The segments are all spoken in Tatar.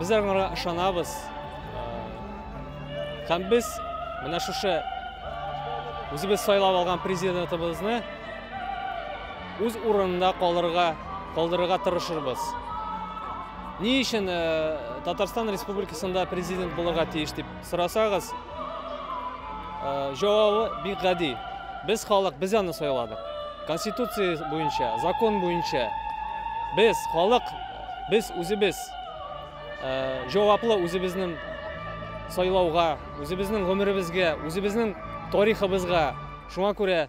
Без аларга ышанабыз. Һәм без менә шушы үзебез сайлап алган президентыбызны үз урынында калырга, калдырырга тырышырбыз. Ни өчен Татарстан Республикасында президент булырга тиеш дип Сорасагыз, җавабы бик гади. Без халык, без аны сайладык. Конституция буенча, закон буенча без халык, без үзебез җаваплы үзебезнең сайлауга, үзебезнең гомеребезгә, үзебезнең тарихыбызга. Шуңа күрә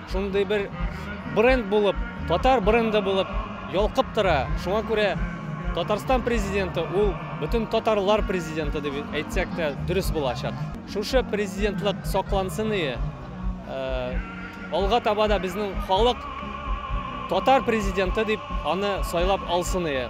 Шундый бер бренд булып, татар бренды булып ялкып тора. Шуңа күрә Татарстан Президенты ул бөтен татарлар президенты дип әйтсәк тә дөрес булачак. Шушы президентлык саклансыние. Алга таба да безнең халык татар президенты дип аны сайлап алсыние.